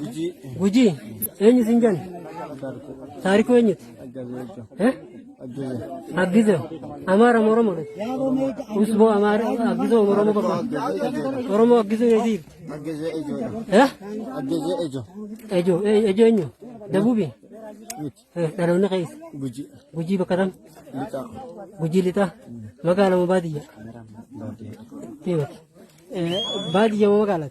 Gujii. Gujii. Eenyu siin jenna? Taarikuu eenyuti? Eh? Aggizo. Amaara moo Oromoo dha? Usboo Amaara Aggizo moo Oromoo bakka? Oromoo Aggizo eesii? Aggezee ejoodha. Eh? Aggezee ejo. Ejoo. eh, Ejoo eenyu? Dabuubi? Miti. Eh, Dhaloonni keessa. Gujii. Gujii bakka tam? Lixaa. Gujii lixaa. Magaalaa moo baadiyyaa? Baadiyyaa. Baadiyyaa moo magaalaa?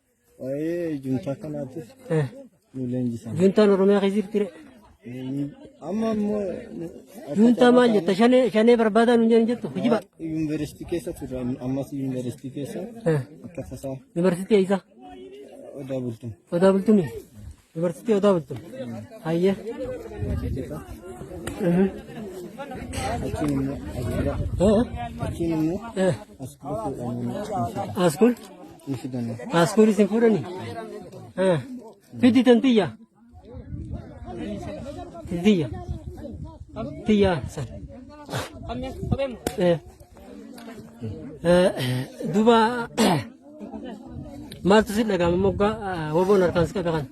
Waa'ee juntaa kanaatiif Eh, nu leenjisan. Juntaan Oromiyaa keessa jirti re. Amma immoo Juntaa maal jetta? Shanee shanee barbaadaa nu jedhan jettu. Hijiba. yuunivarsiitii keessa turre ammas yuunivarsiitii keessa Eh, akka tasaa Yuunivarsiitii eessa? odaa bultum. Odaa bultumii. Dubartittii yoo daawwattu. Hayyee. Achiin immoo ajeera. Achiin immoo as kuusuudhaan immoo Askuul. hin fidanne. Askuul isin fuudhani. Fiddi tan tiyya. Tiyya. Tiyya san. Eh. Eh, Duba Maaltu si dhaga'ama moggaa woboon harkaan si qabe kana?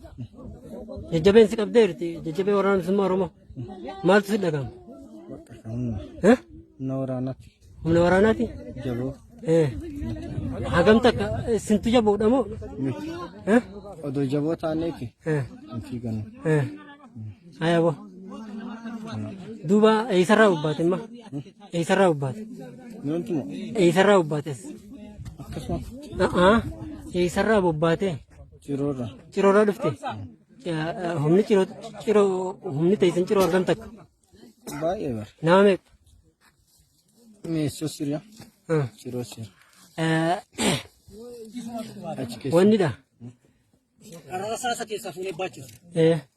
Jajjabeen si qabdee jirti jajjabee waraana bilisummaa Oromoo. Maaltu si dhaga'ama? Eh? Humna waraanaatti Humna waraanaati? jaboo Eh. Hagam takka isintu jaboodha moo? miti. Eh? Odoo jaboo taaneeti Eh. hin fiigannu. Eh. Ayabo. Duuba eessarraa hubbaate imma? Eessarraa hubbaate? Namtu moo? Eessarraa hubbaates? Akkasuma A'aa. Eessarraa bobbaate? ciroorra. Ciroorraa dhufte? Yaa, Humni ciroo ciroo humni teessan ciroo argam takka? Baay'ee bara. Nama meeqa? Meessoo siriya. Ah. Ciroo sira. Eh, Achi keessa. Wannidha. Rasaasa keessaa fuunee baachisa. Eh,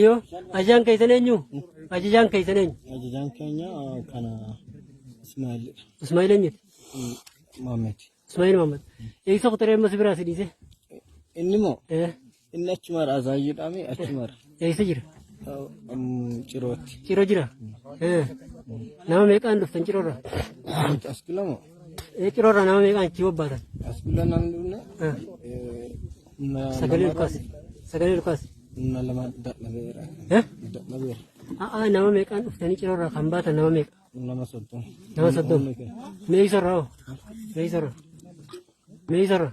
Iyo ajajaan keessan eenyu? Ajajaan keessan eenyu? Ajajaan keenya ah, kana Ismaa'il Ismaa'il eenyuti? Mohaammed. Ismaa'il Mahammad. Eegsa kutaree amma si biraa si dhiise. Inni moo Eh, inni achumaadha azaayyuudhaami achumaadha. Eegsa jira. Ah, mm, Cirootti. Ciro jira. Eh, Nama meeqaan dhuftan cirorra? Nuti as gula moo? Eh, Cirorra nama meeqaan achi bobbaatan? As gula namni dhufne Eh, eh, Sagalee ol kaasi. Sagalee ol kaasi. Nama lama dadhabeera. Eh? Dadhabeera. A'aa nama meeqaan dhuftanii ciroo irraa kan baatan nama meeqa? Nama soddoma. Nama soddoma. Humni kee. Mee isarraa hoo? Mee isarraa? Mee isarraa?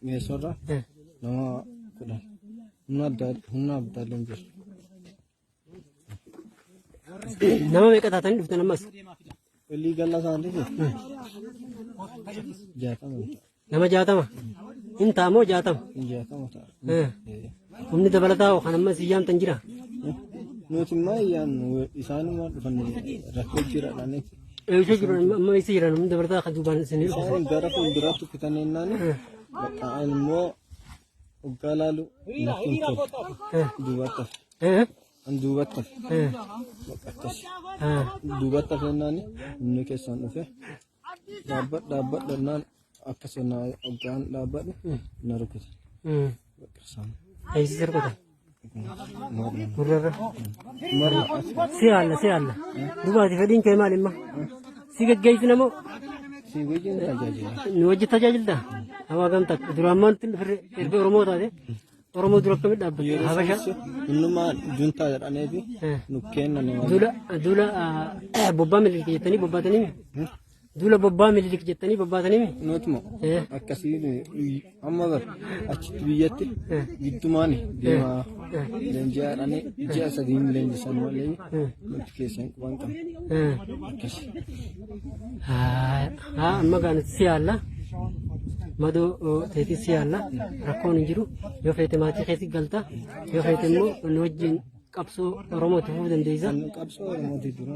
Meeshoorra Eh. nama kudhan. Humna addaa humna abdaalleen jira. Nama meeqa taatanii dhuftan ammas? Walii gala isaanii jaatama Nama jaatama. Hin taamoo jaatama. jaatama ta'a. Eh. Humni dabalataa hoo kan ammas hin yaamtan jira. Nuti immoo iyyaan isaanuma dhufan rakkoo jira dhaanii. Eegisee jiru amma isa jiran humni dabalataa kan duubaan isin hin Isaan gara fuulduraatti kutanneennaan bakka immoo Hoggaa laalu lafti hin tolu. Duubatti hafe. Eh, An duubatti hafe. eh, Akkas. eh. Duubatti hafe jennaan inni keessaan dhufe. Dhaabbadha dhaabbadha jennaan akkas jennaan hoggaan dhaabbadhu na rukute. Mm. Bakka isaan. Eegsisa rukuta. Gurrarra. Si haalla si haalla. Dubaati fedhiin kee maal imma? Si geggeessina moo? Si wajjin tajaajila. Nu wajjin tajaajilta? Hawaa gamta duraan maanti firri erga Oromoo taate Oromoo dura akkamitti dhaabbatte? Yeroo Habasha. sanatti innuma juntaa jedhanii fi Eh. nu kennanii waan Duula duula bobbaa miliqii jettanii bobbaatanii Duula bobbaa mililik jettanii bobbaatanii Nuutuma akkasii amma bar achitti biyyatti giddumaan deemaa leenji'aadhaan ji'a sadii hin leenjisan malee nuti keessa hin quban qabne akkasi. haa amma gaa nuti si yaalla madoo teetii si yaalla rakkoon hin jiru yoo feete maatii keetti galta yoo feete immoo nu wajjin qabsoo Oromoo itti fufuu dandeessa. Qabsoo Oromootii dura.